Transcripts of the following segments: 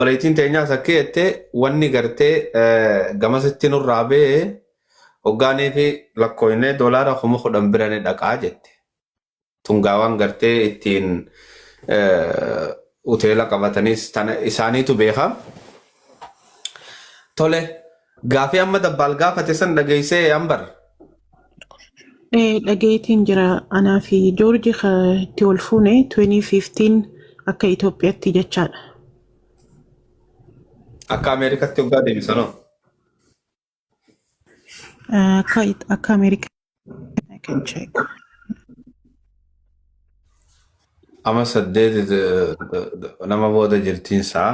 Obboleettiin teenyaas akka jette wanni gartee eh, gamasitti nurraa ba'e hoggaanii fi lakkoofnee doolaara kuma kudhan bira ni dhaqaa jette. Tungaawaan gartee ittiin eh, hoteela qabatanis tana isaaniitu beeka. Tole Gaafii amma dabbaal gaafate san dhageessee ambar. Ee, dhageetiin jira anaa fi joorji ka itti wal fuune 2015 akka Itoophiyaatti jechaadha. Akka Ameerikatti hoggaa deebisanoo. Eh, Akka it- akka Ameerikaa I can check. Amma saddeet eh, nama booda jirtiin sa'a.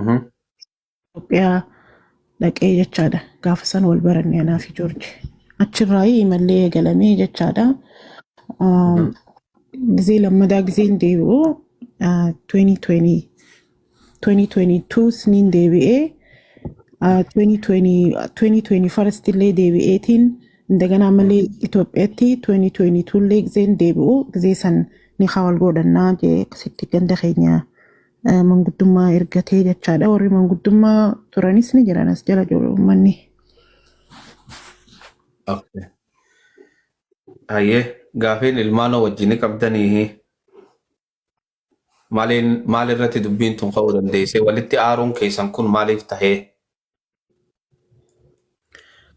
Mhm. Itoophiyaa dhaqee jechaadha. Gaafa san wal baranne anaa fi Joorji. Achirraa imallee eegalamee jechaadha. Ah, Mhm. Gizee lammadaa gizeen deebi'u ah, 2020 2022 sniin deebi'ee ah, 2020 2021 illee deebi'eetiin indaganaa malee Itoophiyaatti 2022 illee gizeen deebi'u gizee san ni hawal godhannaa jee akkasitti ganda keenya ah, manguddummaa ergatee jechaadha warri manguddummaa turanis ni jiran as jala jiru uummanni. Okay. Hayyee gaafiin ilmaanoo wajjin qabdanii Maliin maal irratti dubbiin tun ka'uu dandeessee? Walitti aaruun keessan kun maaliif tahee?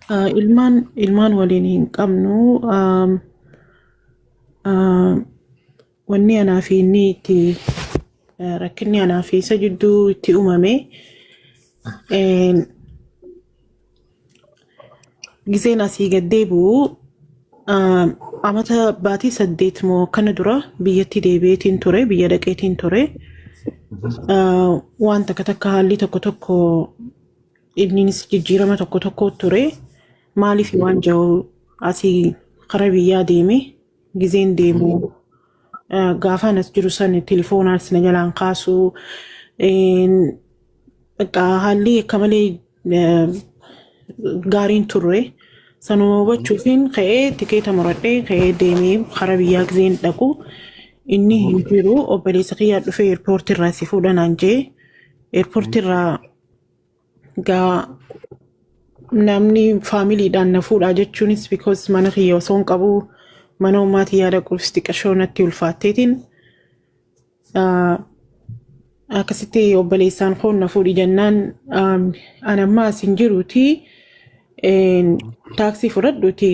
Ah, Ilmaan ilmaan waliin hin qabnu. Aam, ah, Wanni anaa fi inni itti eh, rakkinni anaa fi isa jidduu itti uumame eh, Giseen asii gad deebi'u ah, amata baatii saddeet moo akkana dura biyyatti deebi'eetiin ture biyya dhaqeetiin ture Ah, waan takka takka haalli tokko tokko inninis jijjiirama tokko tokko ture maaliif waan ja'u asii kara biyyaa deeme giseen deemu ah, gaafaan as jiru san tilifoonaas na jalaan kaasuu Bakka haalli akka malee eh, gaariin turre. Sanuma hubachuufiin ka'ee tikeeta muradhee ka'ee deemee karaa biyyaa gizeen dhaqu inni hin jiru obboleessa kiyyaa dhufee eerpoortii irraa si fuudha naan jee eerpoortii irraa gaa namni faamiliidhaan na fuudhaa jechuunis because mana kiyya osoo hin qabu mana ummaatii yaada qulfis xiqqashoo natti ulfaatteetiin akkasitti obboleessaan koo na fuudhi jennaan an ammaa asin jiruuti taaksii fudhadhuuti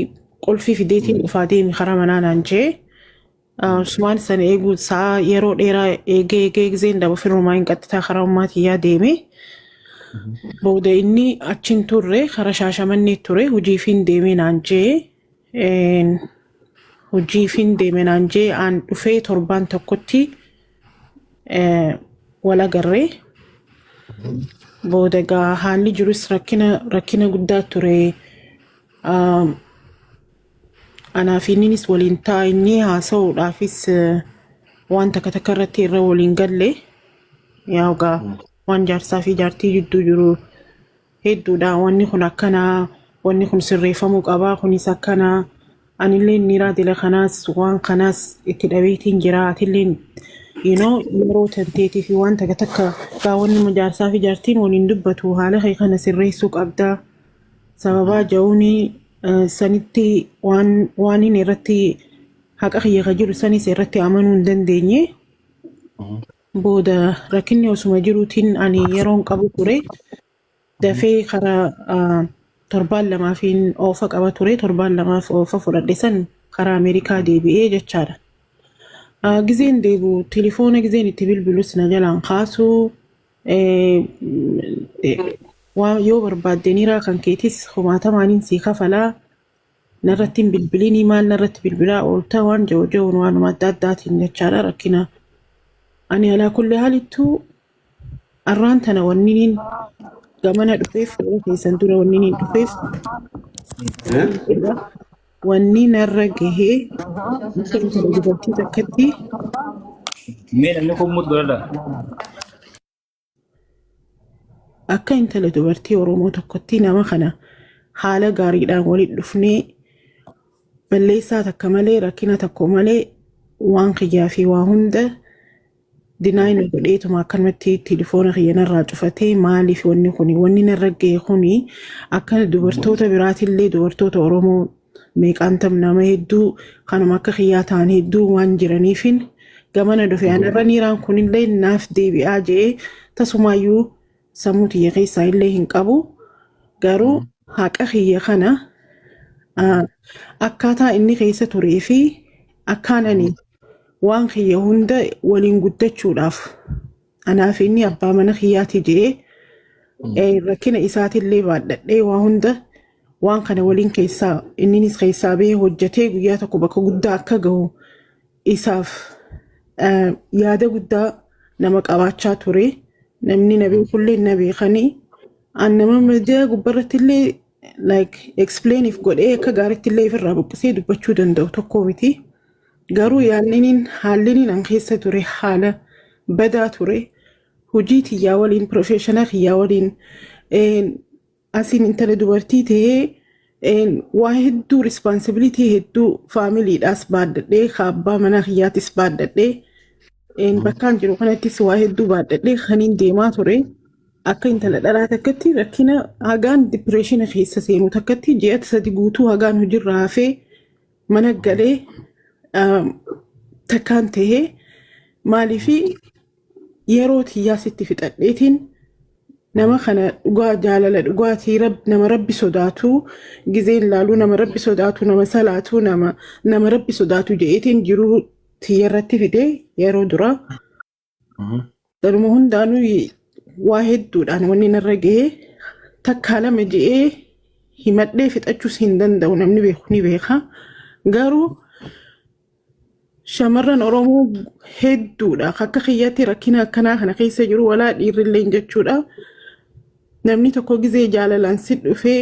qulfii fideetiin dhufaa deemi karaa manaa naan jee Usmaan sana eeguu sa'a yeroo dheeraa eegee eegee gizeen daba firrumaa hin qaxxitaa karaa ummaatiyyaa deeme. Booda inni achiin turre karaa shaashamannee ture hojiifiin deemee naan jee Een, hojiifin deeme naan jee aan dhufee torbaan tokkotti eh, wal agarree booda gaa haalli jirus rakkina rakkina guddaa ture Ah, anaa fi inninis waliin taa'inni haasa'uudhaafis eh, waan takka takka irratti irra waliin galle yaa gaa waan jaarsaa fi jaartii jidduu jiru hedduudha wanni kun akkana wanni kun sirreeffamuu qaba kunis akkana anillee niraa dila kanaas waan kanaas itti dhabeetiin jira atillee you know yeroo tanteetii fi waan takka takka gaa wanni nama jaarsaa fi jaartiin waliin dubbatu haala kee kana sirreessuu qabda sababaa ja'uuni eh, sanitti waan waaniin irratti haqa kiyya ka jiru sanis irratti amanuu hin dandeenye Booda rakkinni osuma jiruutiin ani yeroon qabu ture. Dafee karaa ah, torbaan lamaafiin oofa qaba ture. Torbaan lamaaf oofa fudhadhe san karaa Ameerikaa deebi'ee jechaadha. Ah, Gizeen deebi'u tilifoona gizeen itti bilbilus na jalaan kaasu. Eh, eh, waan yoo barbaadde niraa kan keetis kumaatamaaniin sii kafalaa. Narratti hin bilbilinii maal narratti bilbilaa oolta waan jiru jiruun waanuma adda addaatiin jechaadha rakkina. Ani alaa kulli haalittuu arraan tana wanniniin gamana dhufeef yeroo keessan dura wanniniin dhufeef jedha. Wanni narra gahee akka intala dubartii takkatti Mee namni kun mut godhadha. Akka intala dubartii Oromoo tokkotti nama kana haala gaariidhaan walitti dhufnee balleessaa takka malee rakkina tokko malee waan kiyyaa fi waa hunda dinaay nu godheetuma akkanumatti tilifoona kiyya narraa cufatee maaliif wanni kuni wanni narra ga'e kuni akka dubartoota biraatillee dubartoota Oromoo meeqaan tam nama hedduu kanuma akka kiyyaa ta'an hedduu waan jiraniifin gamana dhufe anarra niiraan kunillee naaf deebi'aa je'ee tasumaayyuu sammuu tiyya keessaa illee hin qabu garuu haqa kiyya kana ah, akkaataa inni keessa turee fi akkaan ani waan kiyya hunda waliin guddachuudhaaf Anaa fi inni abbaa mana kiyyaati je'ee Mm. eh, rakkina isaatillee baadhadhee waa hunda waan kana waliin keessaa inninis keessaa bahee hojjetee guyyaa tokko bakka guddaa akka gahu isaaf eh, yaada guddaa nama qabaachaa ture. Namni na beekullee na beekanii an nama miidiyaa gubbarrattillee like explain if godhee akka gaaritti illee ifirraa buqqisee dubbachuu danda'u tokko miti. Garuu yaanniniin haalliniin an keessa ture haala badaa ture hojii tiyyaa waliin professional kiyyaa waliin een, asiin intala dubartii ta'ee een, waa hedduu responsibility hedduu faamiliidhaas baaddadhee kaabbaa manaa kiyyaatis baaddadhee Een, Mhm. bakkaan jiru kanattis waa hedduu baadhadhee kaniin deemaa ture akka intala dhalaa takkatti rakkina hagaan dipireeshina keessa seenu takkatti ji'a sadi guutuu hagaan hojirra hafee mana galee um, takkaan tahee maaliifi yeroo tiyyaa sitti fixadheetiin nama kana dhugaa jaalala dhugaatii rab, nama rabbi sodaatu gizeen laaluu nama rabbi sodaatu nama salaatu nama nama rabbi sodaatu jedheetiin jiruu tiyya irratti fide yeroo duraa Mhm. Garuma hundaanuu waa hedduudhaan wanni narra ga'ee takkaa lama je'ee himadhee fixachuus hin danda'u namni beeku ni beeka. Garuu shamarran Oromoo hedduudha akka kiyyatti rakkina akkanaa kana keessa jiru walaa dhiirrilleen jechuudha. Namni tokko gizee jaalalaan si dhufee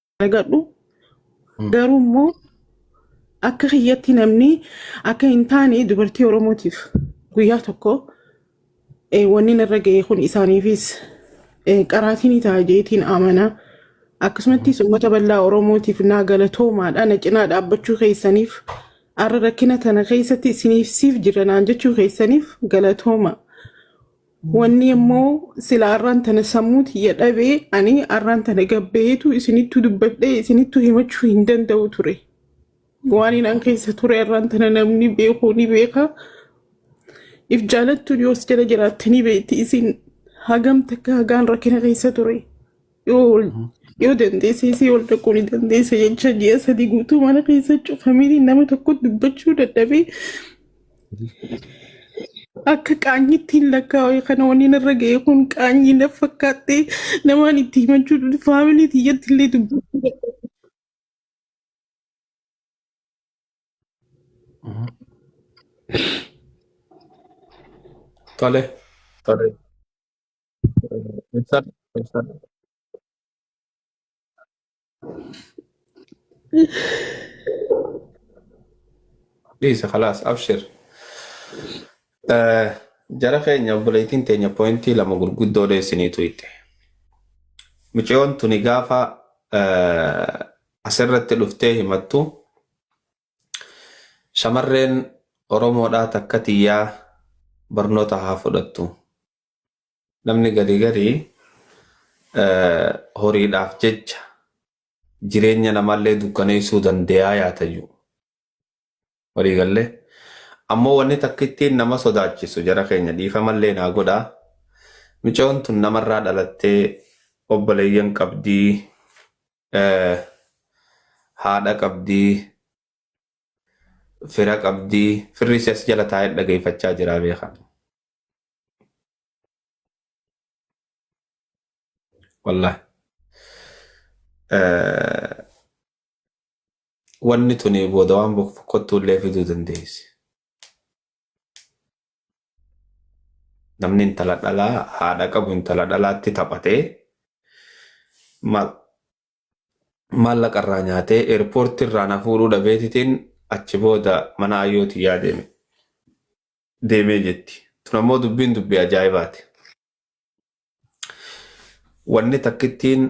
argadhu Mm. garuu immoo akka kiyyatti namni akka hin taane dubartii oromootiif guyyaa tokko eh, wanni narra ga'e kun isaaniifis eh, qaraatii ni ta'a jeetiin amana akkasumattis uummata bal'aa oromootiif naa galatoomaadha na cinaa dhaabbachuu keessaniif arra rakkina tana keessatti isiniif siif jiranaan jechuu keessaniif galatooma Wanni immoo sila arraan tana sammuu tiyya dhabe ani arraan tana gabbaheetu isinittu dubbadhee isinittu himachuu hin danda'u ture. Waan inaan keessa ture arraan tana namni beeku ni beeka. If jaalattuun yoos jala jiraatte ni beekti isin hagam takka hagaan rakkina keessa ture. yoo yoo dandeessee si ol dhaquu ni dandeessa jecha ji'a sadii guutuu mana keessa cufamee nama tokko dubbachuu dadhabee akka qaanyitti hin lakkaa'u kana waniin irra ga'e kun qaanyii na fakkaattee namaan itti himachuu dha faamilii tiyyatti illee dubbachuu dadhabee. Tole. Tole. Ibsadhu, ibsadhu. Dhiisi khalaas, abshir. Eh, Jara keenya obboleettiin teenya poointii lama gurguddoo dheessiniitu itti. Mucayoon tuni gaafa eh, asirratti dhuftee himattu shamarreen Oromoodhaa takka tiyyaa barnoota haa fudhattu. Namni gari gari horiidhaaf jecha jireenya namaallee dukkaneessuu dandeeyaa yaatayyu. Walii gallee. Ammoo wanni takka ittiin nama sodaachisu jara keenya dhiifamallee naa godhaa. Micoon tun namarraa dhalattee obboleeyyan qabdii, haadha qabdii, fira qabdii, firri isii as jala taa'ee dhageeffachaa jiraa beekaa. wallah wanni tuni booda waan bokkottuu illee fiduu dandeessi. Namni intala dhalaa haadha qabu intala dhalaatti taphatee maal maallaqa irraa nyaatee eerpoortii irraa na fuudhuu dhabeetitiin achi booda mana ayyootii yaadeeme. deemee jetti. Tun ammoo dubbiin dubbii ajaa'ibaati. Wanni takkittiin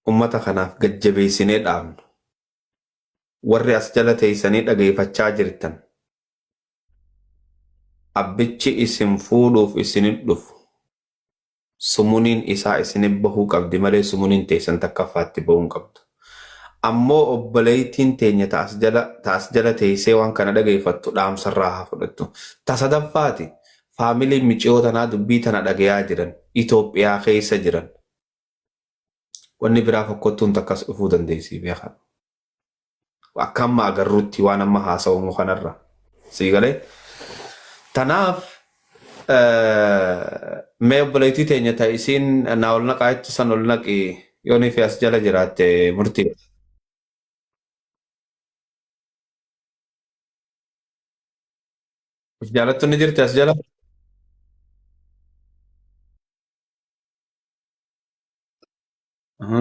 ummata kanaaf gad jabeessinee dhaamnu warri as jala teessanii dhageeffachaa jirtan abbichi isin fuudhuuf isin hin dhufu. Sumuniin isaa isinif bahuu qabdi malee sumuniin teessan takkaffaa itti bahuu hin qabdu. Ammoo obboleeytiin teenya ta as jala ta as jala teeysee waan kana dhageeyfattu dhaamsa irraa haa fudhattu. Ta sadaffaati, Faamiliin miciyoo tanaa dubbii tana dhageeyaa jiran, Itoophiyaa keeysa jiran. Wanni biraa fokkottuun takkas dhufuu dandeeysii beekadhu. Akka amma agarrutti waan amma haasawamu kanarra. Sii galee? Tanaaf mee obboleettii teenya ta isiin naa ol naqaa jettu san ol naqi yoo nifi as jala jiraatte murtii. Of jaalattu ni jirti as jala? Aha.